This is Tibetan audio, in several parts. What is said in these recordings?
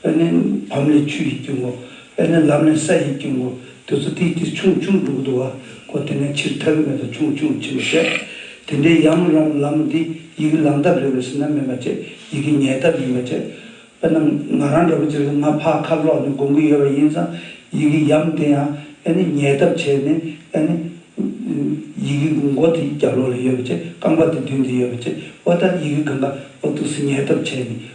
དཔེར་ན་བམ་ལས་ཆུ་ཡི་རྒྱུན་གོ། དཔེར་ན་ལམ་ལས་ས་ཡི་རྒྱུན་གོ། དུས་ཚོད་དེའི་དུས་ཆུང་ཆུང་འབྲུག་བསྡུ་བ་གོ། དེ་ནས་ཕྱིར་ཐར་གྱི་མེ་ཏོག་ཆུང་ཆུང་འབྱིན་པར་བཤད། དེ་འདྲའི་ཡམ་རོང་ལམ་འདི་ཡི་གེ་ལམ་ཐབས་རེ་བའི་ཟིན་རྣམ་མེད་པ་བཅས་ཡི་གེ་ཉལ་ཐབས་ཡིན་པ་བཅས། དཔེར་ན་ང་རང་འདྲ་བོ་ཅིག་ལ་ང་ཕག་ཁར་ལོག་ནས་སྒོམ་གྱི་ཡོད་པ་ཡིན་ཙང་ཡི་གེ་ཡམ་དེ་ཡང་དཔེར་ན་ཉལ་ཐབས་བྱས་ནས་དཔེར་ན། ཡི་གེ་མགོ་དེ་རྒྱབ་ལོག་ལ་ཡོད་པ་བཅས་རྐང་པ་དེ་མདུན་དུ་ཡོད་པ་བཅས་བ་ལྟར་ཡི་གེ་གང་ག་བ་ཐུགས་སུ་ཉལ་ཐབས་བྱས་ནས་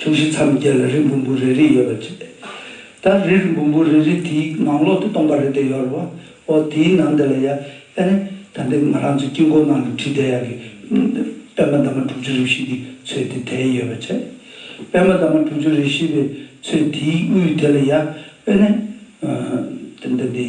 ཕྱོགས་བཞི་མཚམས་བརྒྱད་ལ་རི་འབུམ་བུ་རེ་རེ་ཡོད་པར་བྱས། ད་རི་རི་འབུམ་བུ་རེ་རེ་དེའི་ངང་ལོག་ཏུ་སྟོང་པ་རེ་དེ་ཡོད་རེད་བ། ཨོ་དེའི་ནང་དེ་ལ་ཡ། ཨེ་ནི། ད་འདི་ང་རང་ཚོའི་དཀྱིལ་འཁོར་ནང་དུ་ཁྲི་བརྡལ་ཡག་གི། པད་མ་འདབ་མ་དྲུག་ཅུ་རེ་བཞི་དེ་ཚོས་དེ་དལ་ཡོད་པར་བྱས། པད་མ་འདབ་མ་དྲུག་ཅུ་རེ་བཞི་པའི་ཚོས་དེའི་དབུས་དེ་ལ་ཡ། ཨེ་ནི། ད་འདི།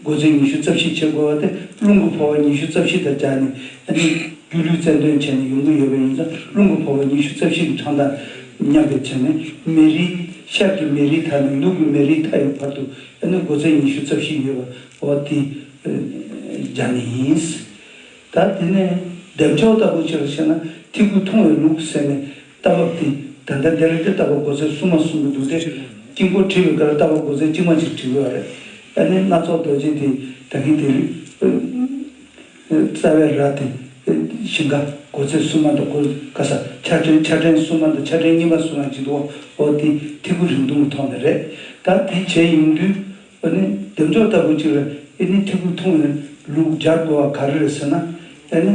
སྒོ་ཆེན་ཉི་ཤུ་རྩ་བཞི་ཕྱེ་དགོས་པ་དེ་རླུང་གི་འཕོ་བ་ཉི་ཤུ་རྩ་བཞི་དང་སྦྱར་ནས་རྒྱུ་རྒྱུ་ལུས་རྩལ་འདོན་བྱས་ནས་ཡོང་གི་ཡོད་པ་ཡིན་ཙང་རླུང་གི་འཕོ་བ་ཉི་ཤུ་རྩ་བཞི་གི་གྲངས་དང་མཉམ་པའི་ཆ་ནས་མེ་རིའི་ཤར་གྱི་མེ་རིའི་མཐའ་ནས་ནུབ་ཀྱི་མེ་རིའི་མཐའ་ཡོད་བར་དུ་སྒོ་ཆེན་ཉི་ཤུ་རྩ་བཞི་ཡོད་པ་འོ་དེ་སྦྱར་ནས་ཡིན། ད་དེ་ནས་བདེ་མཆོག་ལྟ་བུ་ཅི་ལ་ཞེ་ན་ཐིག་གུ་ཐུང་བའི་ལུགས་ཟེར་ནས། རྟ་བབས་ཏེ་ད་ལྟ་འདི་རེད་དེ་རྟ་བབས་སྒོ་ཚད་གསུམ་མ་གསུམ་གྱི་འདུག་སྟེ། དཀྱིལ་འཁོར་བྲིས་པའི་ཁར་རྟ་བབས་སྒོ་ཚད་གཅིག་མ་གཅིག་བྲི་དགོས་བ་རེད། ཨ་ནི་སྣ་ཚོགས་རྡོ་རྗེ་དེ་ད་གིན་དེ་རིགས། རྩ་བའི་ར་དེ་ཞིང་ཁ་སྒོ་ཚད་གསུམ་མ་དང་སྒོ་ཁ་ས་ཆ་ཕྲན་ཆ་ཕྲན་གསུམ་མ་དང་ཆ་ཕྲན་གཉིས་པ་སུ་རང་བྱིན་དུ་འོ་དེ་ཐིག་གུ་རིང་ཐུང་གི་ཐོག་ནས་རེད། ད་དེ་བྱས་ཡོང་དུས་འོ་ནི་འདེབས་འཇོག་ལྟ་བུ་ཅིག་རེད་ཨེ་ནི་ཐིག་གུ་ཐུང་བའི་ལུགས་སྦྱར་དགོས་བ་ག་རེ་རེད་ཟེར་ན་ཨེ་ནི།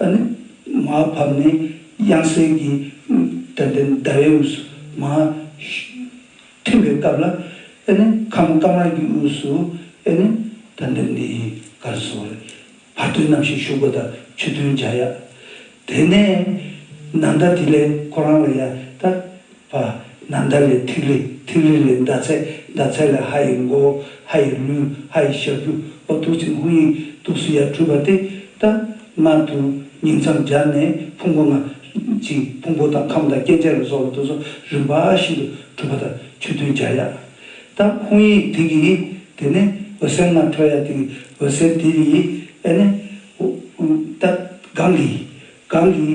ཨ་ནི་མ་བབས་ནས་དབྱངས་གསལ་གྱི་དོན་དེ་ཟླ་བའི་དབུས་སུ་མ་ཐིམ་པའི་སྐབས་ལ་ཨེ་ནི་མཁའ་མོ་དཀར་དམར་གྱི་དབུས་སུ་ཨེ་ནི་དོན་དེ་འདི་ཡི་གར་སོགས་རེ་བར་དོན་རྣམ་བཞིན་ཞུགས་པ་དང་ཆུ་འཐུང་བྱ་ཡག། དེ་ནས་ནང་ལྟ་དེ་ལས་ཁོ་རང་ལ་ཡང་ལྟ། བ། ན་མདའ་ལས་ཐིག་ལེ། ཐིག་ལེ་ལས་མདའ་ཚད། མདའ་ཚད་ལས་ཧ་ཡི་མགོ། ཧ་ཡི་ལུས། ཧ་ཡི་ཞབས་ཀྱུ། ཨོ་ཐུགས་ཆེན་ཧཱུྃ་ཡིག། ཐུགས་སུ་ཡར་འཁྲུལ་པ་སྟེ། ཏདྨ། དུ། ཉིང་མཚམས་སྦྱར་ནས་ཕུང་པོ་ལྔ། གཅིག། ཕུང་པོ་དང་ཁམས་དང་སྐྱེ་མཆེད་ལ་སོགས་ལ་དུ་སོགས་རིམ་པ་བཞིན་དུ་གྲུབ་པ་དང་ཆོས་མཐུན་སྦྱར་ཡ། ཏདྨ་ཧཱུྃ་ཡིག་དེ་གི། དེ་ནས་འོད་གསལ་ལྔ་འཕྲོ་ཡ་དེ་གི། འོད་གསལ་དེ་གི། ཨེ་ནས། ཏད྄། གང་གི། གང་གི།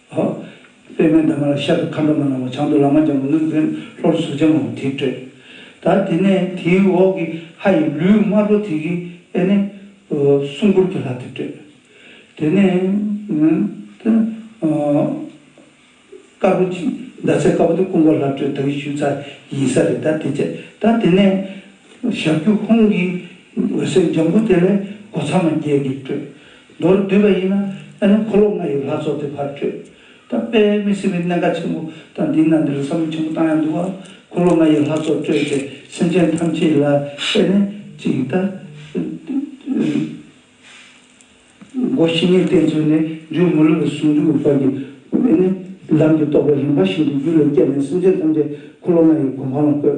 ཧཱུྃ། པདྨའི་འདབ་མ་ལ་ཤར་དུ་མཁའ་འགྲོ་མ་ནག་མོ་བྱང་དུ་ལཱ་མ་ལྗང་གུ་གླིང་བུན་ལྷོར་གཟུགས་ལྗང་མོ་དེ་སྤྲོས། ད་དེ་ནས་དེའི་འོག་གི་ཧ་ཡིས་ལུས་དམར་པོ་དེ་གིས་པས་ནི། སྲུང་འཁོར་གྱི་ལྷ་དེ་སྤྲོས། དེ་ནས། དཀར་པོ་གྱིས་ཟླ་ཚེས་དཀར་པོ་དེ་སྐུ་འཁོར་ལྷ་སྤྲོས་དག་གིས་ཞུ་ཚ་ཡིན་ས་རེད་ད་དེ་བྱས། ད་དེ་ནས། ཞབས་ཀྱི་ཧཱུྃ་གིས་འོད་ཟེར་ལྗང་གུ་དེ་ལས་སྒོ་ཚང་མ་བརྒྱད་ཀྱིས་སྤྲོས། མདོར་བསྡུས་པ་ཡིན་ན་ཨེ་རན་འཁོར་ལོ་ལྔ་ཡི་ལྷ་ཚོགས་དེ་ཕར་བྲོས། ད་དཔེ་མི་སྲིད་པའི་གནད་འགག་ཆེན་པོ་དང་འདི་ན་འདིར་བསམ་བློ་ཆེན་པོ་བཏང་ཡང་འདུག་བ། འཁོར་ལོ་ལྔ་ཡི་ལྷ་ཚོགས་བྲོས་ཚེ་སེམས་ཅན་ཐམས་ཅད་ལ་ཨེ་རན་གྱི་ཡི་དྭགས། སྒོ་བཞི་ནས་གཏན་ཚོད་ནས་འཇུག་མི་ལུས་པའི་ཟུང་འཇུག་གི་བར་གྱི་ཨེ་རན་གྱི་ལམ་དེ་རྟོགས་པའི་རིམ་པ་བཞིན་དུ་རྒྱུད་ལ་བསྐྱལ་ནས་སེམས་ཅན་ཐམས་ཅད་འཁོར་ལོ་ལྔ་ཡི་གོ་འཕང་ལ་བཀོད།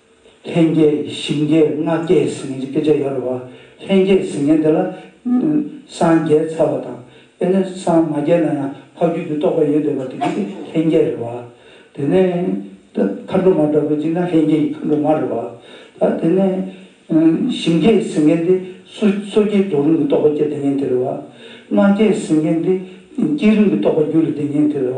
ལྷན་སྐྱེས་ཞིང་སྐྱེས་ལྔ་སྐྱེས་ཟིན་ངན་སྐྱེས་བྱ་ཡོད་རེད་བ། ལྷན་སྐྱེས་ཟིན་ངན་དེ་ལ་སངས་རྒྱས་ཚར་བ་དང་དེ་ནས་སངས་མ་རྒྱས་ན་ཡང་འཕགས་རྒྱུད་ཀྱི་རྟོགས་པ་ཡོད་འདོད་པ་དེ་གཉིས་ཀྱི་ལྷན་སྐྱེས་རེད་བ། དེ་ནས་མཁའ་འགྲོ་མ་འདྲ་པོ་གཅིག་ན་ལྷན་སྐྱེས་ཀྱི་མཁའ་འགྲོ་མ་རེད་བ། ད་དེ་ནས་ཞིང་སྐྱེས་ཟིན་ངན་དེ་སོ་སྐྱེའི་རྫོགས་རིམ་གྱི་རྟོགས་པ་སྐྱེ་བདེ་ངན་དེ་རེད་བ། ལྔ་སྐྱེས་ཟིན་ངན་དེ་སྐྱེས་རིམ་གྱི་རྟོགས་པ་རྒྱུད་ལ་བདེ་ངན་དེ་རེད་བ།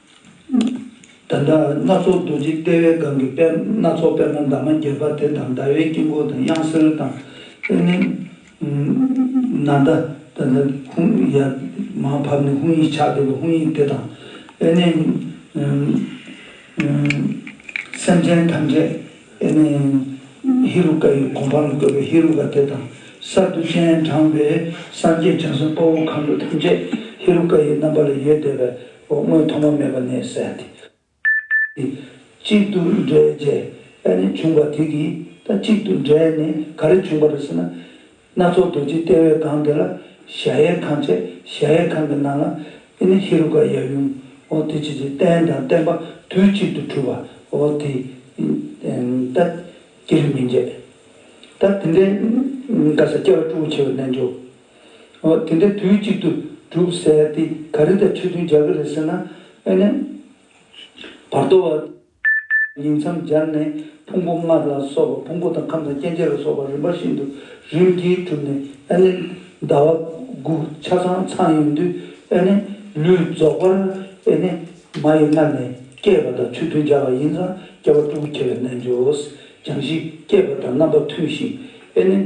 ད་ལྟ་སྣ་ཚོགས་རྡོ་རྗེ་ལྟེ་བའི་སྒང་གི་དཔལ་སྣ་ཚོགས་པད་མ་འདབ་མ་བརྒྱད་པ་དེ་དང་ཟླ་བའི་དཀྱིལ་འཁོར་དང་དབྱངས་གསལ་དང་ལྷའི་ནི། ནཱ་ད། ད་ལྟ་ཧཱུྃ་ཡར་མར་བབས་ནས་ཧཱུྃ་ཡིག་ཕྱག་འདེབས་པའི་ཧཱུྃ་ཡིག་དེ་དང་ལྷའི་ནི། སེམས་ཅན་ཐམས་ཅད་ལྷའི་ནི། ཧེ་རུ་ཀ་ཡི་གོ་འཕང་ལ་བཀོད་པའི་ཧེ་རུ་ཀ་དེ་དང། གསར་དུ་སྤྱན་དྲངས་པའི་སངས་རྒྱས་བྱང་སེམས་དཔའ་བོ་མཁའ་འགྲོ་ཐམས་ཅད་ཧེ་རུ་ཀ་ཡི་རྣམ་པ་ལ་ཡོད་བཟླས་པའི་འོ་སྔོན་ཐོག་མ་མེད་པ་ནས་བསལ་ཏེ། གཅིག་ཏུ་འདྲེས་རྗེས་ཨེ་ནི་བྱུང་བ་དེ་གིས་ད་གཅིག་ཏུ་འདྲེས་ནས་ག་རེ་བྱུང་བ་རེད་ཟེར་ན། སྣ་ཚོགས་རྡོ་རྗེ་ལྟེ་བའི་སྒང་དེ་ལ་གཞལ་ཡས་ཁང་བྱས་གཞལ་ཡས་ཁང་གི་ནང་ལ་ཨེ་ནི་ཧེ་རུ་ཀ་ཡབ་ཡུམ་འོ་དེ་བྱས་རྗེས་རྟེན་དང་བརྟེན་པ་དུས་གཅིག་ཏུ་གྲུབ་པ་འོ་དེ་ད་ཀྱེ་རེ་མི་འབྱེད། ད་དེ་འདྲའི་ག་ས་སྐྱེ་བ་སྤྲུལ་བ་ཆེ་བའི་རྣལ་འབྱོར་ཨོ། དེ་འདྲ་དུས་གཅིག་ཏུ་གྲུབ་ཟེར་དེ་ག་རེ་དང་ཁྲིད་སྟོན་རྒྱག་གི་རེད་ཟེར་ན། ཨེ་ནས། བར་དོ་བ། ཉིང་མཚམས་སྦྱར་ནས་ཕུང་པོ་ལྔ་ལ་སོགས་པ་ཕུང་པོ་དང་ཁམས་དང་སྐྱེ་མཆེད་ལ་སོགས་པ་རིམ་པ་བཞིན་དུ་རིམ་གྱིས་གྲུབ་ནས་ཨེ་ནས། ཟླ་བ། དགུག་ཆ་ཚང་ཚང་ཡོང་དུས་ཨེ་ནས། ལུས་རྫོགས་པར་ཨེ་ནས། མ་ཡི་མངལ་ནས་སྐྱེས་པ་དང་ཆོས་མཐུན་སྦྱར་བ་ཡིན་ཙང་སྐྱེ་བ་དཀྲུག་གུ་ཁྱེར་བའི་རྣལ་འབྱོར། སྦྱང་གཞི་བསྐྱེད་པ་དང་རྣམ་པ་མཐུན་ཞིང་ཨེ་ནས།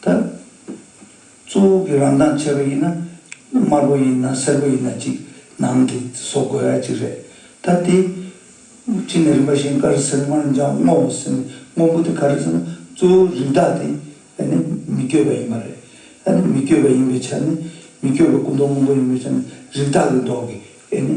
ད། གཙོ་བོ་གི་རང་མདངས་ཆེ་བ་ཡིན་ན་དམར་པོ་ཡིན་ན་སེར་པོ་ཡིན་ན་ཅིག་ནང་གི་བཟོ་དགོས་ཡ་ཅིག་རེད། ད་དེ། གཅིག་ནས་རིམ་པ་བཞིན་དཀར་སེར་དམར་འཇམ་སྔོ་བ་སེར་མི་སྔོན་པོ་དེ་ག་རེད་ཟེར་ན་གཙོ་བོ་རིགས་བདག་དེ་ཨ་ནི་མི་བསྐྱོད་པ་ཡིན་པ་རེད། ཨ་ནི་མི་བསྐྱོད་པ་ཡིན་པའི་ཆ་ནས་མི་བསྐྱོད་པ་སྐུ་མདོག་སྔོན་པོ་ཡིན་པའི་ཆ་ནས་རིགས་བདག་གི་མདོག་གི་ཨེ་ནི།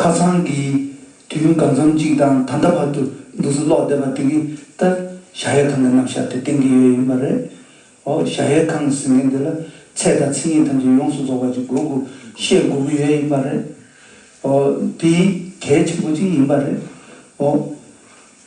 ཁ་སང་གི་དུས་ཡུན་གང་འཚམ་གཅིག་དང་ད་ལྟ་བར་དུ་འདུག་ཚུལ་ཀློག་བསྡད་པ་དེ་གི་ལྟར་བྱ་ཡས་ཁང་གི་རྣམ་བཞག་དེ་གཏན་འཁེལ་ཡོད་ཡིན་པ་རེད། འོ་བྱ་ཡས་ཁང་གི་ཟིན་མཁན་དེ་ལ་ཚད་དང་ཚིག་ངེས་ཐམས་ཅད་ཡོངས་སུ་རྫོགས་པ་ཅིག་དགོས་དགོས་ཤེས་དགོས་ཀྱི་ཡོད་ཡིན་པ་རེད། འོ་དེ་གལ་ཆེན་པོ་ཅིག་ཡིན་པ་རེད། འོ།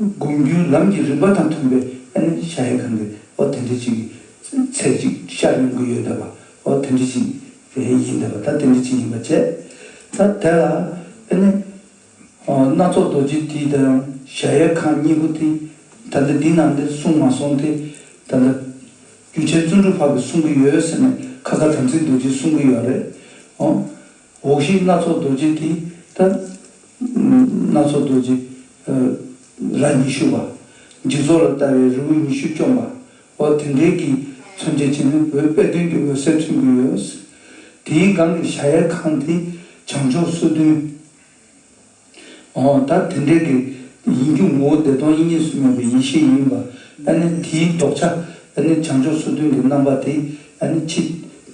བསྒོམ་རྒྱུའི་ལམ་གྱི་རིམ་པ་དང་མཐུན་པའི་ཨེ་ནས་ཤ་ཡེ་གང་གི་ཨོ་དེ་འདྲི་གཅིག་གི་ཚེ་ཅིག་ཤར་ཡོང་གི་ཡོད་འདོད་པ་ཨོ་དེ་འདྲི་གཅིག་རེད་ཡིན་འདོད་པ་ད་དེ་འདྲི་གཅིག་ཡིན་པ་བཅས་ད་དེ་ལ་ཨེ་ནས་སྣ་ཚོགས་རྡོ་རྗེ་དེའི་ད་ཡང་ཤ་ཡེ་གང་གཉིས་པོ་དེ་ད་འདི་འདི་ནང་འདིར་གསུངས་མ་སོང་སྟེ་ད་ལྟ་རྒྱུ་ཆེན་བརྩོན་འགྲུས་འཕགས་ཀྱིས་གསུང་གི་ཡོད་ཟེར་ནས་ཁ་ཁ་དམ་ཚིག་རྡོ་རྗེས་གསུང་གི་ཡོད་རེད་ཨོ། འོག་གཞི་སྣ་ཚོགས་རྡོ་རྗེ་དེ་ལྟར། སྣ་ཚོགས་རྡོ་རྗེ་རྭ་ཉི་ཤུ་པ། འཇིག་ཚོགས་ལ་ལྟ་བའི་རི་བོ་ཉི་ཤུ་བཅོམ་པ། འོ་དེ་འདྲའི་གྱི་མཚོན་ཆ་ཅན་ནི་བོད་དཔེ་སྟོན་གྱི་འོད་གསལ་མཚོན་གྱི་ཡོད། དེའི་སྒང་གི་ཞྭ་ཡལ་ཁང་དེ་བྱང་ཕྱོགས་སོ་བདུན། འོ་ད་དེ་འདྲའི་གི་ཡིན་རྒྱུ་ངོ་བོ་བདེ་སྟོང་དབྱིངས་ཉིད་སུ་མེད་པའི་ཡེ་ཤེས་ཡིན་པ་ཨ་ནི་དེའི་ལྡོག་ཆ་ཨ་ནི་བྱང་ཕྱོགས་སོ་བདུན་གྱི་རྣམ་པ་དེ་ཨ་ནི་ཕྱི་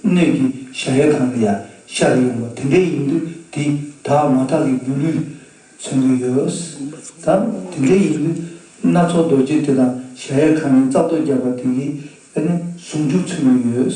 སྣོད་ཀྱི་གཞལ་ཡས་ཁང་ལ་ཡང་ཤར་ཡོང་བ་དེ་འདྲའི་ཡིན་དུས་དེ་དག་མ་དག་གི་སྒྱུ་ལུས་མཚོན་གྱི་ཡོད། ད་དེ་འདྲའི་ཡིན་དུས་སྣ་ཚོགས་རྡོ་རྗེ་དེ་དང་གཞལ་ཡས་ཁང་ནི་རྩ་རྡོ་བརྒྱབ་པ་དེ་གིས་ཨ་ནི་ཟུང་འཇུག་མཚོན་གྱི་ཡོད།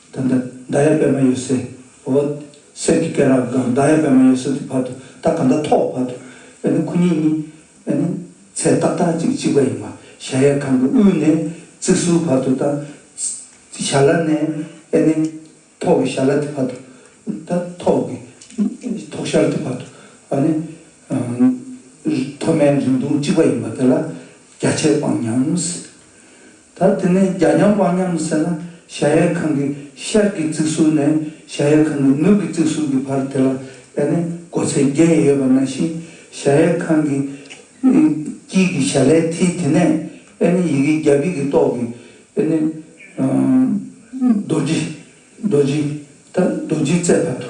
དེ་འདྲ་མདའ་ཡབ་པད་མ་ཡོད་སའི་འོ། གསེར་གྱི་སྐེ་རགས་དང་མདའ་ཡབ་པད་མ་ཡོད་སའི་དེ་བར་དུ་རྟགས་གང་དག་ཐོགས་བར་དུ་བས་ན་ཁོ་གཉིས་ནི་བས་ན་ཚད་ཏག་ཏག་ཅིག་གཅིག་པ་ཡིན་པ་ཞལ་ཡས་ཁང་གི་དབུས་ནས་རྩིག་གཟུགས་བར་དུ་དང། ཞར་ལ་ནས་བས་ནས་ཐོག་གི་ཞར་ལ་དེ་བར་དུ་དང་ཐོག་གི་ཐོག་ཞར་དེ་བར་དུ་བ་ནི། མཐོ་དམན་རིང་ཐུང་གཅིག་པ་ཡིན་པ་དེ་ལ་རྒྱ་ཆད་སྤང་སྙམ། ད་དེ་ནས་རྒྱ་མཉམ་དབང་མཉམ་ཟེར་ན་གཞལ་ཡས་ཁང་གི་ཤར་གྱི་རྩིག་ཟུར་ནས་གཞལ་ཡས་ཁང་གི་ནུབ་ཀྱི་རྩིག་ཟུར་གྱི་བར་དེ་ལ་བལྟས་ན་སྒོ་ཚད་བརྒྱད་ཡོད་པ་ན་བཞིན་གཞལ་ཡས་ཁང་གི་དཀྱིལ་གྱི་ཞལ་ལའི་མཐིལ་དེ་ནས་བལྟས་ན་ཡི་གེ་བརྒྱ་བརྒྱད་ཀྱི་ཏོག་གིས་བལྟས་ན། རྡོ་རྗེ་རྡོ་རྗེ། ད་རྡོ་རྗེའི་རྩའི་བར་དུ་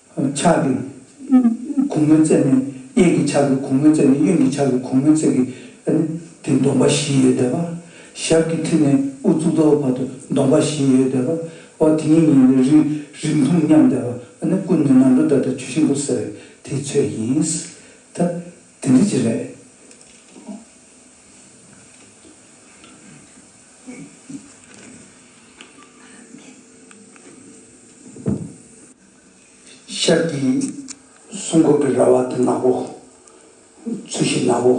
ཕྱག་གི་གུང་མོའི་རྩེ་ནས་གཡས་ཀྱི་ཕྱག་གི་གུང་མོའི་རྩེ་ནས་གཡོན་གྱི་ཕྱག་གི་གུང་མོའི་རྩེ་གི་སྟེང་གདོང་པ་བཞི་ཡོད་དད་པ། ཞབས་ཀྱི་མཐིལ་ནས་དབུ་གཙུག་ཏོ་བར་དུ་གདོང་པ་བཞི་ཡོད་དད་པ། འོ་དེ་ཉིད་ཉིད་ལས་རིགས་རིགས་མཐོང་སྙམ་དད་པ། སྐུ་ནི་ནང་འགྲོ་ལྟར་དུ་ཆུ་ཤིང་པོ་ཟེར་བའི་དེའི་ཚོད་ཡིན། ད་དེ་འདི་ཅི་རེད། ཤར་གྱི་སྲུང་འཁོར་གྱི་ར་བ་དེ་ནག་པོ། ཚུལ་བཞིན་ནག་པོ།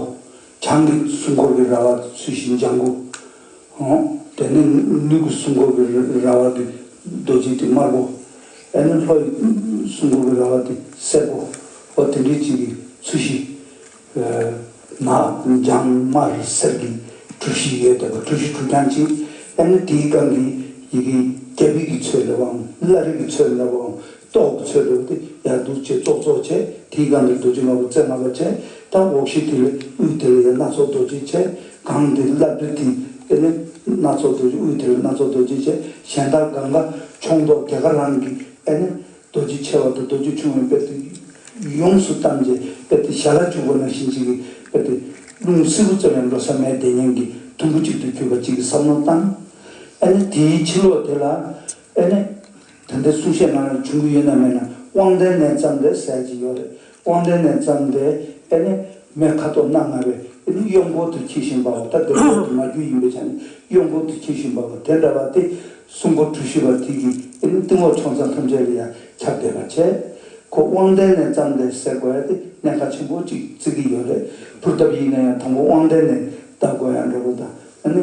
བྱང་གི་སྲུང་འཁོར་གྱི་ར་བ་དེ་ཚུལ་བཞིན་ལྗང་གུ། དེ་ནས་ནུབ་ཀྱི་སྲུང་འཁོར་གྱི་ར་བ་དེ་རྡོ་རྗེ་དེ་དམར་པོ། དེ་ནས་ལྷོ་ཡི་སྲུང་འཁོར་གྱི་ར་བ་དེ་སེར་པོ། འོ་དེ་འདྲའི་གཅིག་གིས་ཚུལ་བཞིན། ན་རྒྱང་དམར་སེར་གྱི་གྲུ་བཞི་ཡོད་དེ་བ་གྲུ་བཞི་གྲུ་རྐྱང་གཅིག་ཨེ་ན་དེའི་སྒང་གི་ཡི་གེ་རྒྱ་བིག་གི་ཚོད་ལ་བའམ་བླ་རིག་གི་ཚོད་ལ་བའམ་ཏོག་གི་ཚོད་ལ་བ་དེ་ཡར་རྡུལ་བྱེད་ཙོག་ཙོག་བྱེད་དེའི་སྒང་གི་རྡོ་རྗེ་ལྔ་བ་རྩེ་ལྔ་པ་བྱེད་དང་འོག་གཞི་དེ་ལས་དབུས་དེ་ལ་ཡར་སྣ་ཚོགས་རྡོ་རྗེ་བྱེད་སྒང་དེ་བླ་བདུད་དེ་ཨེ་ན་སྣ་ཚོགས་རྡོ་རྗེ་དབུས་དེ་ལ་སྣ་ཚོགས་རྡོ་རྗེ་བྱེད་གཞན་དག་སྒང་ཀ་ཕྱོགས་མདོག་རྒྱ་ཀ་རང་གི་ཨེ་ན་རྡོ་རྗེ་ཆེ་བ་དང་རྡོ་རྗེ་ཆུང་བའི་དཔེར་ཏེ། ཡོངས་སུ་གཏམས་ཀྱི་དཔེར་ཏེ་ཞལ་ལ་བྱུགས་པ་ནང་བཞིན་གཅིག་གི་དཔེར་ཏེ། རླུང་བསིལ་བུ་ཙམ་ཡང་འགྲོ་ས་མེད་དེ་སྙིང་གི་དུམ་བུ་གཅིག་ཏུ་གྱུར་པ་གཅིག་གི་བསམ་མནོ་བཏང། ཨེ་ནི་དེའི་ཕྱི་ལོགས་དེ་ལ། ཨེ་ནི། ད་ལྟའི་གསུང་བཤད་ནང་ལ་འབྱུང་གི་ཡོད་ན་མེད་ན་དབང་ལྡན་ནས་བརྩམས་ཏེ་གསལ་གྱི་ཡོད་རེད་དབང་ལྡན་ནས་བརྩམས་ཏེ་ཨེ་ནི་མའི་ཁ་དོག་སྣ་ལྔ་བས་ཨེ་ནི་གཡོག་འཁོར་དུ་འཁྱིལ་བཞིན་པའོ་ད་དེ་འཁོར་དུ་མ་རྒྱུད་ཡིན་པའི་ཆ་ནས་གཡོག་འཁོར་དུ་འཁྱིལ་བཞིན་པའོ་དེ་འདྲ་བ་སྟེ་སྲུང་འཁོར་གྲུ་བཞི་པ་དེ་གིས་ཨེ་ནི་སྟེང་འོག་ཕྱོགས་མཚམས་ཐམས་ཅད་ལ་ཡང་ཁྱབ་བདེ་བར་བྱས་གོ་དབང་ལྡན་ནས་བརྩམས་ཏེ་ཟེར་གོ་ཨེ་ཏི་གནས་མཁའ་ཆེན་པོ་གཅིག་བརྩིག་གི་ཡོད་རེད་ཕུར་སྟབས་ཡིན་ན་ཡང་དང་པོ་དབང་ལྡན་ནས་བཟླ་དགོས་ཡང་འདྲ་པོ་དང་ཨེ་ནི་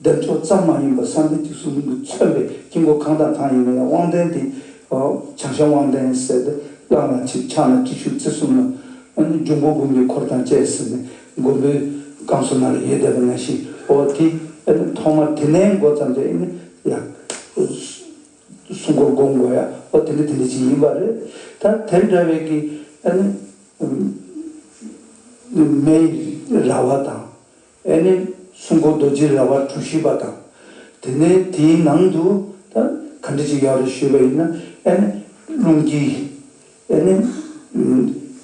བདེ་མཆོག་ཙམ་མ་ཡིན་པར་སངས་རྒྱས་ཀྱི་གསུང་དུ་མཚོན་པའི་དཀྱིལ་འཁོར་གང་དང་གང་ཡིན་ནོ་ཡང་དབང་ལྡན་དེ། བྱང་ཤར་དབང་ལྡན་གསལ་ཏེ་གླང་ལ་ཆིག་ཕྱག་ན་གཅིག་ཤུག་རྩེ་གསུམ་ལ། འབྱུང་པོ་འབུམ་གྱི་འཁོར་དང་བཅས་ཟིན་ནས་མགོན་པོའི་བསྐང་གསོ་གནང་ནས་ཡོན་བསྡད་པ་ན་ཞིག་འོ་དེ། ཐོག་མར་དེ་ནས་འགོ་བརྩམས་ཏེ། ཡང། སྲུང་འཁོར་བསྒོམ་དགོས་ཡ། འོ་དེ་འདི་དེ་འདི་ཅི་ཡིན་པ་རེད། ད་དེ་འདྲ་བའི་གི། མེའི་ར་བ་དང། ཨེ་ནི་སྲུང་འཁོར་རྡོ་རྗེའི་ར་བ་གྲུ་བཞི་པ་དང། དེ་ནས་དེའི་ནང་དུ་ག་འདྲི་ཅིག་ཡོད་རེ་ཞུས་པ་ཡིན་ན་ཨེ་ནི་རླུང་དཀྱིལ། ཨེ་ནི་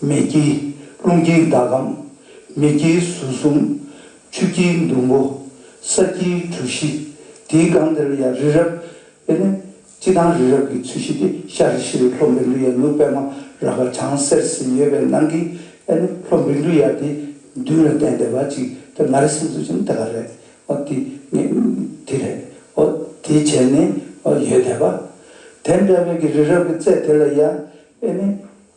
མེ་དཀྱིལ། རླུང་དཀྱིལ་ཟླ་གམ། མེ་དཀྱིལ་ཟུར་གསུམ། ཆུ་དཀྱིལ་འདུ་འགོ། ས་དཀྱིལ་གྲུ་བཞི། དེའི་སྒང་དེར་ཡང་རི་རབ། ཨེ་ནི་སྤྱི་དང་རི་རབ་ཀྱི་ཚུལ་བཞི་སྟེ་ཤར་རི་ཤི་རི་ལྷོ་འབི་འབྲུ་ཡ་ནུབ་པདྨ་ར་བ་བྱང་སེར་གསིལ་ཡོད་པའི་ནང་གི་ཨེ་ནུ་ལྷོ་འབི་འབྲུ་ཡ་དེ་མདུན་ལ་བསྟན་བདེ་བ་ཅིག་དེ་ང་རེ་སེམས་ཚོར་བྱེད་ན་དེ་ག་རེད་འོ་དེ་ངས་དེ་རེད་འོ་དེ་བྱས་ནས་ཡོད་བསྡད་པ། དེ་འདྲ་བའི་གི་རི་རབ་ཀྱི་རྩེ་དེ་ལ་ཡ་ཨེ་ནི་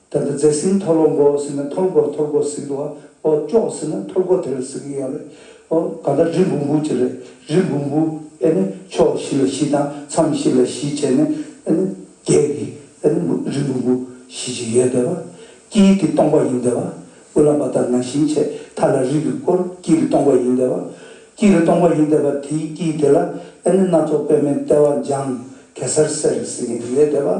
དོན་དུ་རྫས་ཟིན་འཐོར་ལོ་འགོ་ཟིན་ན་འཐོར་སྒོ་འཐོར་སྒོ་ཟིན་འགྲོ་བ་འོ་ཅོག་ཟིན་ན་འཐོར་སྒོ་དེ་ལ་ཟེར་གྱི་ཡོད་རེད་ཨོ་གང་ལྟར་རི་འབུང་འབུང་བྱེད་རེད་རི་འབུང་འབུང་ཨེ་ནི་ཕྱོགས་བཞི་ལ་བཞི་དང་མཚམས་བཞི་ལ་བཞི་བྱས་ནས་ཨེ་ནི་བརྒྱད་ཀྱི་ཨེ་ནི་རི་འབུང་འབུང་བཞི་ཅིག་ཡོད་དེ་བ་དཀྱིལ་གྱི་སྟོང་པ་ཡིན་དེ་བ་དབུ་ལམ་པ་དག་ན་ཞིང་ཆེ་མཐའ་ལ་རིགས་ཀྱི་སྐོར་དཀྱིལ་གྱི་སྟོང་པ་ཡིན་དེ་བ་དཀྱིལ་གྱི་སྟོང་པ་ཡིན་དེ་བ་དེའི་དཀྱིལ་དེ་ལ་ཨེ་ནི་སྣ་ཚོགས་པད་མའི་ལྟེ་བ་འཇང་གེ་སར་སེར་ཟེར་གྱི་ཡོད་དེ་བ།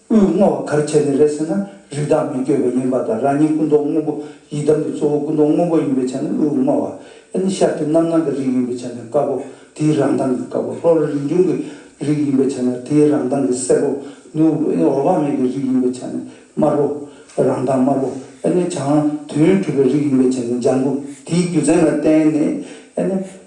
དབུས་བསྔོ་བ་གར་བྱས་ནས་རེད་ཟེར་ན་རིགས་བདག་མི་བསྐྱོད་པ་ཡིན་པ་དང་རང་ཉིད་སྐུ་མདོག་སྔོན་པོ་ཡི་དམ་གྱི་གཙོ་བོ་སྐུ་མདོག་སྔོན་པོ་ཡིན་པའི་ཆ་ནས་དབུས་བསྔོ་བ་ཨེ་ནི་ཤཱཀྱ་རྣམ་སྣང་གི་རིགས་ཡིན་པའི་ཆ་ནས་དཀར་པོ་དེའི་རང་མདངས་ཀྱི་དཀར་པོ་ལྷོ་རི་རིན་འབྱུང་གི་རིགས་ཡིན་པའི་ཆ་ན་དེའི་རང་མདངས་ཀྱི་སེར་པོ་ནུ་བོ་ཨེ་ནི་འོག་བག་མེད་ཀྱི་རིགས་ཡིན་པའི་ཆ་ནས་དམར་པོ་རང་མདངས་དམར་པོ་ཨེ་ནི་བྱང་དུས་ཡུན་གྲུབ་པའི་རིགས་ཡིན་པའི་ཆ་ནས་ལྗང་གུ་དེའི་རྒྱུ་མཚན་ལ་བརྟེན་ནས་ཨེ་ནི་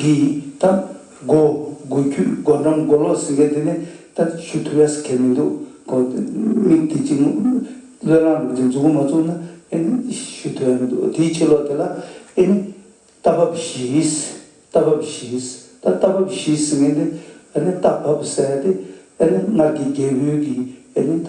གི་སྟབས་སྒོ་དགུ་རྒྱུད་སྒོ་འགྲམ་སྒོ་ལོགས་ཟེར་མཁན་དེ་ནི་ད་ཞུ་ཐུབ་ཡ་ཟེར་མཁན་མི་འདུག་གོ། མིག་དེ་གཅིག་བློས་བླངས་འདུག་དེ་འཛུགས་སྐུ་མ་བཙུགས་ན་ཨེ་ནི་ཞུ་ཐུབ་ཡ་མི་འདུག་དེའི་ཕྱི་ལོགས་དེ་ལ་ཨེ་ནི་རྟ་བབས་བཞི། རྟ་བབས་བཞི། ད་རྟ་བབས་བཞི་ཟེར་མཁན་དེ་ཨེ་ནི་རྟ་བབས་ཟེར་ཡ་དེ་ཨེ་ནི་སྔར་གྱི་རྒྱལ་བོའི་གི་ཨེ་ནི་ད་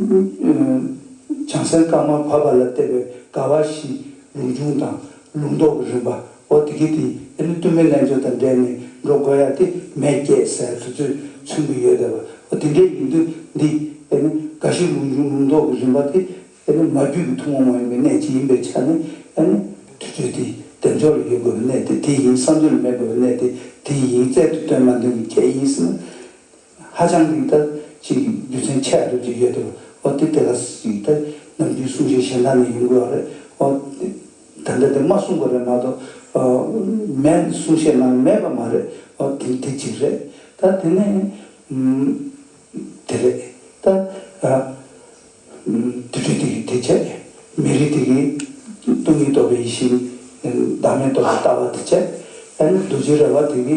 བྱང་སེར་དཀར་དམར་བར་པ་ལ་བལྟས་པའི་དགའ་བ་བཞི། ལུང་ཆུང་དང་ལུང་མདོག་གི་རིམ་པ། འོ་དེ་གི་དེ་འདི་ནི་བསྟུད་མའི་ལན་བརྗོད་དང་འབྲེལ་ནས་འགྲོ་དགོས་ཡ་དེ་མེད་སྐྱེད་ཟེར་དུས་ཚོད་མཚོན་གི་ཡོད་དེ། འོ་དེ་འདྲའི་ཡིན་དུས་འདི་དེ་ནི་དགའ་བཞི་ལུང་ཆུང་ལུང་མདོག་གི་རིམ་པ་དེ་དེ་ནི་མ་རྒྱུད་ཀྱི་ཐུན་མོང་མ་ཡིན་པའི་གནད་ཅིག་ཡིན་པའི་ཆ་ནས་ཡ་ནི་དུས་ཚོད་དེ་བདེ་མཆོག་ལ་ཡོད་དགོས་པའི་གནད་དེ་དེ་ཡིན་བསམ་ཚུལ་ལ་མེད་དགོས་པའི་གནད་དེ་དེ་ཡིན་རྩལ་དུ་སྟོན་མ་འདོན་གྱི་ཁྱད་ཡིན་སྲིད་ན། ཧ་ཅང་གི་ཐབས་ཅིག་རྒྱུ་མཚན་ཆད་སྡོད་ཀྱི་ཡོད་དོ་ཨོ་དེ་དེ་ལ་སྲིད་དེ་ནམ་རྒྱུན་གསུང་བཞིན་གཞན་དག་ནས་ཡིན་དགོས་བ་རེད་ཨོ། ད་ལྟ་དེ་མ་གསུང་དགོས་རེད་མ་གཏོགས་ཨོ། མེད་གསུང་བཤད་གནང་གི་མེད་པ་མ་རེད་ཨོ་དེ་དེ་གཅིག་རེད་ད་དེ་ནས་དེ་རེད་ད། དུད་དྲུག་དེ་གི་དེ་བྱས་མེ་རི་དེ་གི་སྟོང་ཉིད་རྟོགས་པའི་ཡེ་ཤེས་བདག་མེད་རྟོགས་པའི་ལྟ་བ་དེ་བྱས་ཨ་ནི་རྡོ་རྗེ་ར་བ་དེ་གི་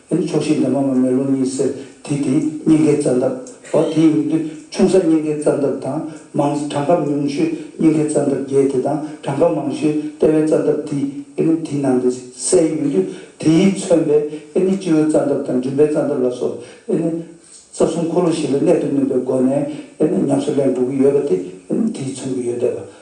ཨེ་ནི་ཕྱོགས་བཞིའི་འདབ་མ་མ་མེ་ལོང་གཉིས་སེར་དེ་དེའི་སྙིང་གའི་རྩ་འདབ། འོ་དེའི་མིང་དུ་ཆུང་ས་སྙིང་གའི་རྩ་འདབ་དང་མང་ས་གྲངས་ཁམས་ཉུང་ཤོས་སྙིང་གའི་རྩ་འདབ་བརྒྱད་དེ་དང་གྲངས་ཁམས་མང་ཤོས་ལྟེ་བའི་རྩ་འདབ་འདི་ཨེ་ནི་དེའི་ནང་དུ་སའི་ཡུན་དུ་དེ་ཡིས་མཚོན་པའི་ཨེ་ནི་སྤྱི་བོའི་རྩ་འདབ་དང་མགྲིན་པའི་རྩ་འདབ་ལ་སོགས་ཨེ་ནི་རྩ་གསུམ་འཁོར་ལོ་བཞི་ལ་གནད་དུ་བསྣུན་པའི་སྒོ་ནས་ཨེ་ནི་ཉམས་སུ་ལེན་དགོས་ཀྱི་ཡོད་པ་དེ་ཨེ་ནི་དེའི་མཚོན་གྱི་ཡོན་ཏན་པ་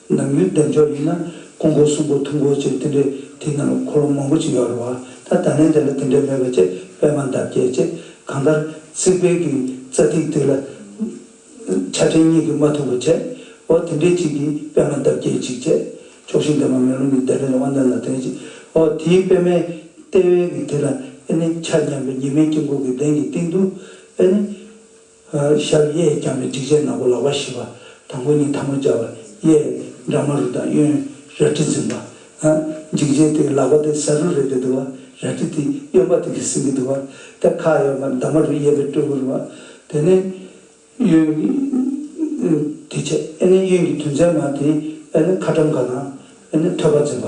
ནམ་ཡོན་ཏན་ཕྱོགས་གཉིས་ན་ཀོང་པོ་སུམ་པོ་ཐུང་པོ་བཅས་དེ་འདྲའི་དེ་ན་ལོ་འཁོར་ལོ་མང་པོ་ཅིག་ཡོད་རེད་བ་ད་ད་ནས་དེ་ལ་དེ་འདྲའི་མེད་པ་ཅེས་པད་མ་འདབ་བརྒྱད་ཅེས་གང་ལྟར་རྩིག་པའི་གི་རྩ་ཐིག་ཐིག་ལ་ཆ་ཕྲན་གཉིས་གི་མ་ཐུག་པ་བྱས་འོ་དེ་འདྲའི་ཅིག་གིས་པད་མ་འདབ་བརྒྱད་ཅིག་བྱས་ཆོག་ཤིང་དེ་མ་མེ་རླུང་གི་བདེ་ལེགས་ལ་དབང་ལྡན་ལ་དོན་ཅི་འོ་དེའི་པད་མའི་ལྟེ་བའི་གི་དེ་ལ་ཨེ་ནི་ཆ་མཉམ་པའི་ཉི་མའི་དཀྱིལ་འཁོར་གི་གདན་གྱི་སྟེང་དུ་ཨེ་ནི། ཤར་གཡས་བརྐྱང་བའི་སྒྲིག་ཆས་ནག་པོ་ལག་པ་བཞི་པ་དང་པོ་གཉིས་ཐ་མ་སྦྱར་བ་གཡས་འདྲ་མ་རུ་དང་གཡོན་རལ་གྲི་འཛིན་པ། སྒྲིག་ཆས་དེའི་ལག་པ་དེ་ས་རུ་རེག་གི་འདུག་བ་རལ་གྲི་དེ་གཡོན་པ་དེ་གིས་ཟིན་གི་འདུག་བ་དེ་ཁ་གཡོག་མ་འདབ་མ་རུ་གཡས་པའི་སྤྲུལ་སྐུར་བ་དེ་ནི་གཡོན་གྱི་དུས་ཆད་ཨེ་ནི་གཡོན་གྱི་དུས་མཚན་མ་དེ་ཨེ་ནི་ཁ་ཁྲམ་ག་དང་ཨེ་ནི་ཐོད་པ་འཛིན་པ་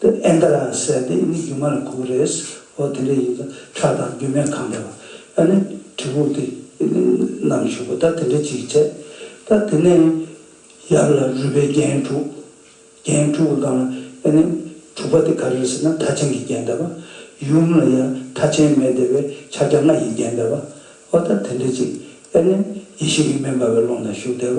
དེ་ཨེ་འདྲ་ཡང་ཟེར་ཏེ་མི་རྒྱུ་མ་ལ་གོ་རེས་ཨོ་དེ་འདྲ་ཡིན་ཙང་ཁྲག་དང་རྒྱུ་མས་གང་འདྲ་བ་ཨ་ནི་གྲི་གུག་དེ་ནམ་ཞུགས་པ་ད་དེ་འདྲ་ཅིག་བྱས་ད་དེ་ནས་ཡབ་ལ་རུས་པའི་རྒྱན་དྲུག་རྒྱན་དྲུག་གི་སྒང་ལ་ཨེ་ནི་དྲུག་པ་དེ་ག་རེ་ཟེར་ན་ཐ་ཆེན་གྱི་རྒྱན་ཟླ་བ་ཡུམ་ལ་ཡང་ཐ་ཆེན་མེད་དེ་བས་ཕྱག་རྒྱ་ལྔ་ཡི་རྒྱན་ཟླ་བ་ཨོ་ད་དེ་འདྲ་ཅིག་ཨེ་ནི་ཡེ་ཤེས་ཀྱི་མེ་འབར་བའི་ཀློང་ན་བཞུགས་བདེ་བ་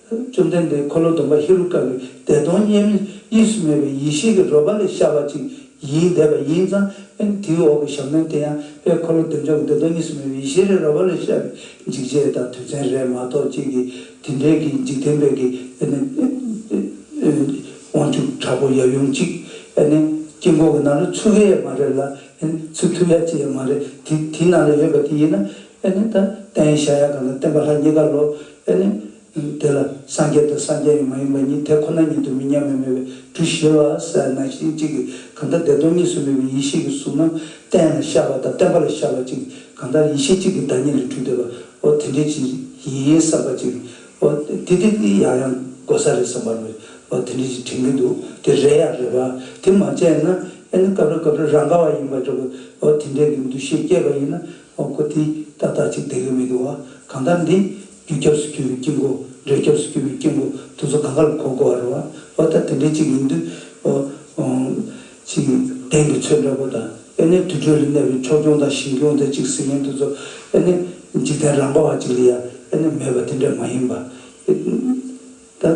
བཅོམ་ལྡན་འདས་འཁོར་ལོ་སྡོམ་པ་ཧེ་རུ་ཀ་བའི་བདེ་སྟོང་དབྱེར་མེད་གཉིས་སུ་མེད་པའི་ཡེ་ཤེས་ཀྱི་རོལ་པ་ལས་ཤར་བ་ཅིག་ཡིད་འདས་པ་ཡིན་ཙང། དེའི་འོག་གི་ཞབས་ནོན་དེ་ཡང་དཔལ་འཁོར་ལོ་བདེ་མཆོག་གི་བདེ་སྟོང་གཉིས་སུ་མེད་པའི་ཡེ་ཤེས་རེ་རོལ་པ་ལས་ཤར་བའི་འཇིགས་བྱེད་དང་དུས་མཚན་རེ་མ་གཏོགས་གཅིག་གི་དེ་འབྲེལ་གྱི་འཇིག་རྟེན་པའི་གི་དབང་ཕྱུག་དྲག་པོ་ཡབ་ཡུམ་གཅིག། དཀྱིལ་འཁོར་གྱི་ནང་ལ་ཆུ་ཀ་ཡ་མ་རེ་ལ། ཚིག་ཐུབ་ཡ་གཅིག་ཡ་མ་རེ། དེའི་ནང་ལ་ཡོད་པ་དེ་ཡིན་ན། ཨེ་ལེ། ད་ལྟའི་ཡེ་ཤ་ཡ་གང་དང་བསྟན་པ་ལྷ་གཉིས་ཀ་ལོ། ཨེ་ལེ། དེ་ལ་སངས་རྒྱས་དང་སངས་རྒྱས་ཡང་མ་ཡིན་པ་གཉིས་དེ་ཁོ་ན་ཉིད་དུ་མི་མཉམ་མེད་མོད་པའི་གྲུ་བཞི་ལ་ཟེར་ན་ཞིང་གཅིག་གིས་གང་ལྟར་བདེ་སྟོང་གཉིས་སུ་མེད་པའི་ཡེ་ཤེས་ཀྱི་གཟུགས་རྣམས་བསྟན་ལ་ཤར་བ་དང་བསྟན་པ་ལ་ཤར་བ་གཅིག་གིས་གང་ལྟར་ཡེ་ཤེས་གཅིག་གི་བདག་ཉིད་ལས་གྲུ་འདོད་པའོ་དེ་འདྲའི་ཕྱིར་ཡིན་བསམ་པ་ཅིག་གིའོ། དེ་དེ་ཡང་ཡང་གོ་ས་རེད་བསམ་པ་ལོ། དེ་འདྲའི་ཕྱིར་དྲན་གྱི་འདུག་དེ་རེད་ཡ་རེད་བ། དེ་མ་བྱས་ན་ཨེ་ལེ། སྐབས་རེ་སྐབས་རེར་རང་ག་བ་ཡིན་པ་འདྲ་བའོ་དེ་འདྲའི་གི་འདུ་ཤེས་སྐྱེས་པ་ཡིན་ན། ཨོ་ཁོ་དེ་ལྟ་ལྟ་གཅིག་བསྡད་ཀྱི་མི་འདུག་ཨ། གང་ལྟར་འདི། རྒྱུ་སྐྱབས་སུ་གྱུར་བའི་དཀྱིལ་འཁོར་འབྲས་སྐྱབས་སུ་གྱུར་བའི་དཀྱིལ་འཁོར་དུ་ཚོ་ག་ག་ལ་གོ་དགོས་ཨ་རོ་ཨ། ཨོ་ད་དེ་འདྲའི་གཅིག་ཡིན་དུས། ཨོ། ཅི། གདན་གྱི་ཚོད་འདྲ་པོ་དང། ཨེ་ནས་དུར་ཁྲོད་ལ་གནས་པའི་ཕྱོགས་སྐྱོང་དང་ཞིང་སྐྱོང་དེ་གཅིག་ཟེར་ཡིན་དུས་ཚོ། ཨེ་ནས། འཇིག་རྟེན་རང་དཔའ་བ་གཅིག་ལ་ཡ། ཨེ་ནས་མེད་པ་དེ་འདྲ་མ་ཡིན་པ། ཨེ། ད།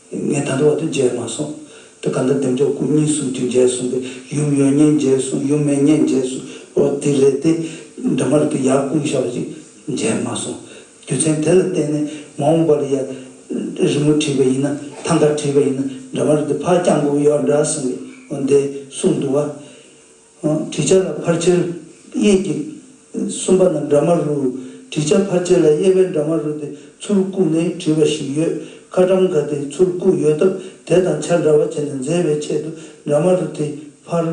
ངས་ད་ལྟ་བར་དུ་མཇལ་མ་སོང། དེ་ག་འདི་བདེ་མཆོག་སྐུ་གཉིས་གསུམ་གྱིས་མཇལ་སོང་གི་ཡུམ་ཡོད་ཉེས་མཇལ་སོང་ཡུམ་མེད་ཉེས་མཇལ་སོང་ཨོ་དེ་ལས་དེ་འདྲ་མ་རེད་དེ་ཡར་སྐུང་ཤ་བ་ཅིག་མཇལ་མ་སོང། རྒྱུ་མཚན་དེ་ལ་བརྟེན་ནས་མ་འོངས་པར་ཡར་རི་མོ་བྲིས་པ་ཡིན་ན་ཐང་ག་བྲིས་པ་ཡིན་ན་འདྲ་མ་རེད་དེ་ཕར་བརྐྱངས་འགུགས་ཡོད་འདྲ་གསུངས་གི་འོ་འདི་གསུངས་འདུག་བ། བྲི་བྱ་ལ་ཕར་ཆེར་དབྱེ་གྱིས། གསུམ་པ་ན་འདྲ་མ་རུ། བྲི་བྱ་ཕར་ཆེར་ལ་དབྱེ་བའི་འདྲ་མ་རུ་དེ་ཚུར་བཀུག་ནས་བྲིས་པ་ཞིག་ཡོད། ཁ་གྲམ་ག་དེ་ཚུར་བཀུག་ཡོད་སྟབས་དེ་དང་ཆ་འདྲ་བ་བྱས་ནས་མཛེས་པའི་ཆེད་དུ་འདྲ་མ་རུ་དེ་ཕར།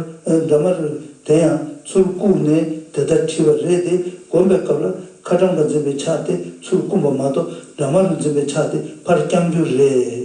འདྲ་མ་རུ་དེ་ཡང་ཚུར་བཀུག་ནས་དེ་ལྟར་བྲིས་པ་རེད་དེ་གོམས་པའི་སྐབས་ལ་ཁ་གྲམ་ག་འཛིན་པའི་ཕྱག་དེ་ཚུར་བསྐུམས་པ་མ་གཏོགས་འདྲ་མ་རུ་འཛིན་པའི་ཕྱག་དེ་ཕར་བརྐྱང་རྒྱུ་རེད།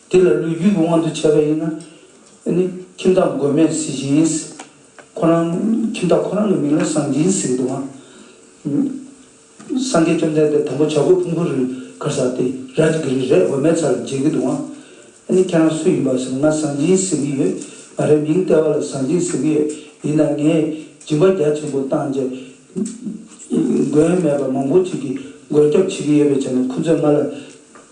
དེ་ལ་ལུས་རྒྱུད་ཀྱི་དབང་དུ་བྱས་པ་ཡིན་ན། ནི། ཁྱིམ་བདག་མགོན་མེད་གཟི་བྱིན་གཟིགས། ཁོ་རང། ཁྱིམ་བདག་ཁོ་རང་གི་མིང་ལ་གསང་སྦྱིན་གཟིགས། འདུག་ཨང། སངས་རྒྱས་བཅོམ་ལྡན་འདས་དང་པོ་བྱ་རྒོད་ཕུང་པོ་རི་གར་ཟགས་ཏེ་རལ་གྲི་གི་རི་རས་འོད་མའི་ཚར་འཇལ་གྱི་འདུག་ཨང། ནི། ཁྱེད་རང་སུ་ཡིན་པ་ཟེར་ན་ང་གསང་སྦྱིན་གཟིགས་ཀྱི་ཡོད། ང་རའི་མིང་ལྟེ་བ་ལ་གསང་སྦྱིན་གཟིགས་ཀྱི་ཡོད། ཡིན་ན་ངས་སྦྱིན་པ་རྒྱ་ཆེན་པོ་བཏང་རྗེས། མགོན་མེད་པ་མང་པོ་ཅིག་གིས་མགོན་སྐྱབས་བྱེད་ཀྱི་ཡོད་པའི་ཆ་ནས་ཁོ་ཚོས་ང་ལ།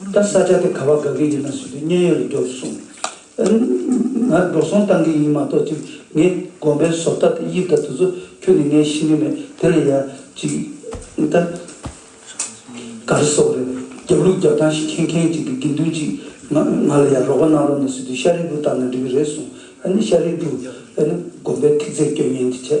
ད་ས་སྐྱ་དེ་ག་བ་དགའ་གི་ཡོད་ན་ཟུར་དུ་མཉན་ཡོད་ལ་འགྲོ་སོང། ང་འགྲོ་སོང་བཏང་གི་ཡིན་མ་གཏོགས་ཅིག་ངའི་དགོན་པའི་བཟོ་ལྟ་དང་དབྱིབས་ལྟ་དེ་ཚོ་ཁྱོད་ནས་ངས་ཤེས་གི་མེད་དེ་ལ་ཡར་ཅིག་ད། ག་རེ་སོགས་རེད་རྒྱབ་ལུགས་རྒྱབ་སྟངས་ཤིག་མཁྱེན་མཁན་ཅིག་གི་དགེ་འདུན་ཅིག་ང་ལ་ཡར་རོགས་པ་གནང་རོགས་ནས་ཟུར་དུ་ཤ་རིལ་བུ་བཏང་ན་འགྲིག་གི་རེད་གསུངས་ཨ་ནི་ཤ་རིལ་བུ་ཨ་ནི་དགོན་པའི་ཐིག་རྫས་སྐྱོན་ཉན་གྱི་བྱས།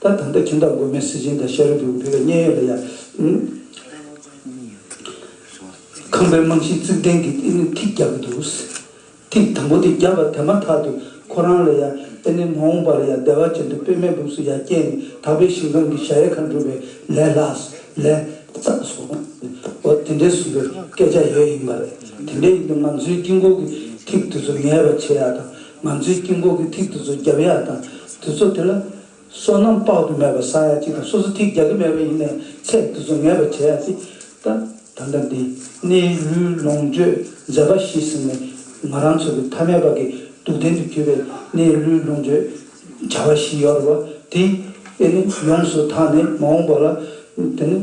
ད་ད་ལྟ་ཁྱིམ་བདག་མགོན་མེད་སེ་ཆེན་དང་ཤ་རུས་ཀྱི་བུ་བུ་ག་བརྙན་ཡོད་ལ་ཡཁང་པའི་རྨང་གཞི་བརྩིགས་གདན་གྱི་ཨེ་ནི་ཐིག་རྒྱག་གི་འདུག་ཐིག་དང་པོ་དེ་རྒྱག་པ་དེ་མ་ཐག་ཏུ་ཁོ་རང་ལ་ཡ་ཨེ་ནི་མ་འོངས་པར་ཡ་བདེ་བ་ཅན་དུ་དཔེ་མེད་སྦུབས་སུ་ཡ་སྐྱེས་ནས་དག་པའི་ཞིང་ཁམས་ཀྱི་ཞྭ་ཡེ་ཁ་འགྲུབ་པའི་ལས་ལ་ལས་བཙག་སོང་བ་དེ་འདྲའི་ཟུམ་པའི་སྐད་ཆ་ཡོད་ཡིན་པ་རེད་དེ་འདྲ་ཡིན་ན་ང་ཚོའི་དཀྱིལ་འཁོར་གྱི་ཐིག་དེ་ཚོ་ངལ་བ་བྱེད་ཡག་དང་ང་ཚོའི་དཀྱིལ་འཁོར་གྱི་ཐིག་དེ་ཚོ་རྒྱབ་ཡ་དང་དེ་ཚོ་དེ་ལ་སོ་ནམ་དཔག་ཏུ་མེད་པ་བཟའ་ཡ་ཅིག་དང་སོ་སོ་ཐིག་རྒྱག་གི་མེད་པ་ཡིན་ནའི་ཚད་དེ་ཚོ་ངེས་པར་བྱ་ཡ་ཅིག་དང་ད་ལྟ་འདི་ནས་ལུས་ལོངས་སྤྱོད་མཛད་པ་ཤི་ཟིན་ནས་ང་རང་ཚོ་གི་ཐ་མལ་པ་གི་སྡུག་བདེན་དུ་གྱུར་པའི་ནས་ལུས་ལོངས་སྤྱོད་བྱ་བ་ཞིག་ཡོད་ར་བ་དེ་ཨེ་ནས་ཡོངས་སུ་དག་ནས་མ་འོངས་པ་ལ་དེ་ནས་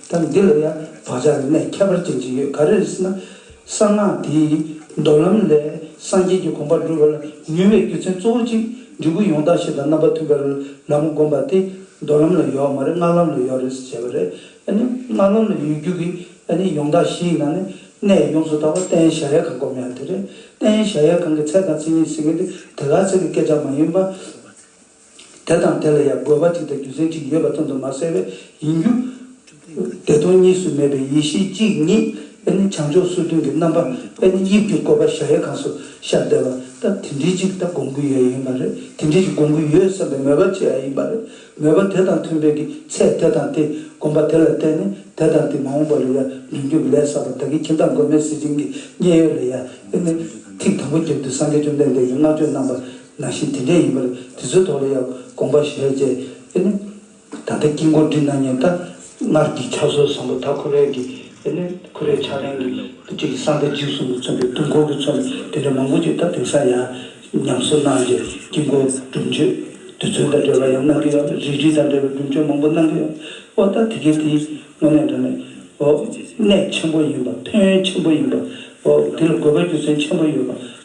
ད་འདི་ལ་ཡང་བག་ཆགས་ཀྱི་གནས་ཁྱད་པར་ཅན་ཅིག་ཡོད་ག་རེ་ཟེར་ན། གསང་སྔགས་དེའི་མདོ་ལམ་ལས་སངས་རྒྱས་ཀྱི་དགོངས་པ་འགྲུབ་པ་ལ་ནུས་པའི་རྒྱུ་མཚན་གཙོ་བོ་གཅིག་འབྲས་བུ་ཡོངས་དག་ཞིག་དང་རྣམ་པ་ཐུན་བརྒལ་ལམ་བསྒོམ་པ་དེ་མདོ་ལམ་ལ་ཡོད་མ་རེད་སྔགས་ལམ་ལ་ཡོད་རེད་ཟེར་བྱས་པ་རེད། སྔགས་ལམ་ལ་ཡོད་རྒྱུ་གི་ཡོངས་དག་བཞི་ཡི་ནང་ནས་གནས་ཡོངས་སུ་དག་པ་རྟེན་གཞལ་ཡས་ཁང་བསྒོམ་ཡག་དེ་རེད། རྟེན་གཞལ་ཡས་ཁང་གི་ཚད་དང་ཚིག་གཉིས་ཟེར་མཁན་དེ་དེ་ག་ཚད་ཀྱི་སྐད་ཆ་མ་ཡིན་པ། དེ་དང་དེ་ལ་ཡང་དགོས་པ་གཅིག་དང་རྒྱུ་མཚན་གཅིག་ཡོད་པ་ཙམ་དུ་མ་ཟད་པས་ཡིན་རྒྱུ། བདེ་སྟོང་གཉིས་སུ་མེད་པའི་ཡེ་ཤེས་གཅིག་ཉིད་པས་ནི་བྱང་ཕྱོགས་སོ་བདུན་གྱི་རྣམ་པ་པས་ནི་དབྱིབས་ཀྱི་བཀོད་པ་གཞལ་ཡས་ཁང་སུ་ཤར་བསྡད་པ་ད་དེ་འདྲིས་གཅིག་ད་སྒོམ་གྱི་ཡོད་ཡིན་པ་རེད་དེ་འདྲིས་ཀྱི་སྒོམ་གྱི་ཡོད་བསམ་པའི་མོས་པ་བྱེད་ཡ་ཡིན་པ་རེད་མོས་པ་དེ་དང་མཐུན་པའི་གི་ཚད་དེ་དང་དེ་སྒོམ་པ་དེ་ལ་བརྟེན་ནས་དེ་དང་དེ་མ་འོངས་པ་ལ་ཡང་འབྲིང་རྒྱུ་ལས་བསགས་པ་བདག་གི་ཁྱིམ་བདག་མགོན་མེད་གཟི་བྱིན་གྱི་མཉན་ཡོད་ལ་ཡང་བརྟེན་ནས་ཐིག་དང་པོ་བརྒྱབ་སྟེ་སངས་རྒྱས་བཅོམ་ལྡན་འདས་ཀྱི་བསྔགས་བརྗོད་རྣམ་པ། ནང་བཞིན་དེ་འདྲ་ཡིན་པར་དེ་ཚོའི་ཐོག་ལ་ཡང་དགོངས་པ་བཞེས་རྗེས་ཨེ་ནི། ད་ལྟ་དཀྱིལ་འཁོར་འདི་ན་ཉིན་ལྟར་སྔར་གྱི་ཕྱག་སྲོལ་བཟང་པོ་དག་ཁུ་རལ་གྱི་ཨེ་ནི་ཁུ་རལ་ཕྱག་ལེན་གྱི་སྤྱི་ཡི་སྲང་ཁ་འཇིགས་གསུམ་དུ་མཚོན་པའི་དུང་འཁོར་གྱི་མཚོན་པ་དེ་འདྲ་མང་པོ་ཅིག་ད་དེང་སང་ཡང་ཉམས་གསོ་གནང་རྗེས་དཀྱིལ་འཁོར་སྒྲུབ་མཆོད་རྡུལ་ཚོན་དང་འབྲེལ་བ་ཡང་གནང་གི་ཡོད་རེད་རིགས་རིགས་དང་འབྲེལ་བའི་སྒྲུབ་མཆོད་མང་པོ་གནང་གི་ཡོད་འོ་ད་དེ་གའི་དེ་དངོས་གནས་འདྲ་ནས་འོ། གནད་ཆེན་པོ་ཡིན་པ་ཕན་ཡོན་ཆེན་པོ་ཡིན་པ་འོ་དེ་ལ་དགོས་པ་རྒྱུ་མཚན་ཆེན་པོ་ཡོད་པ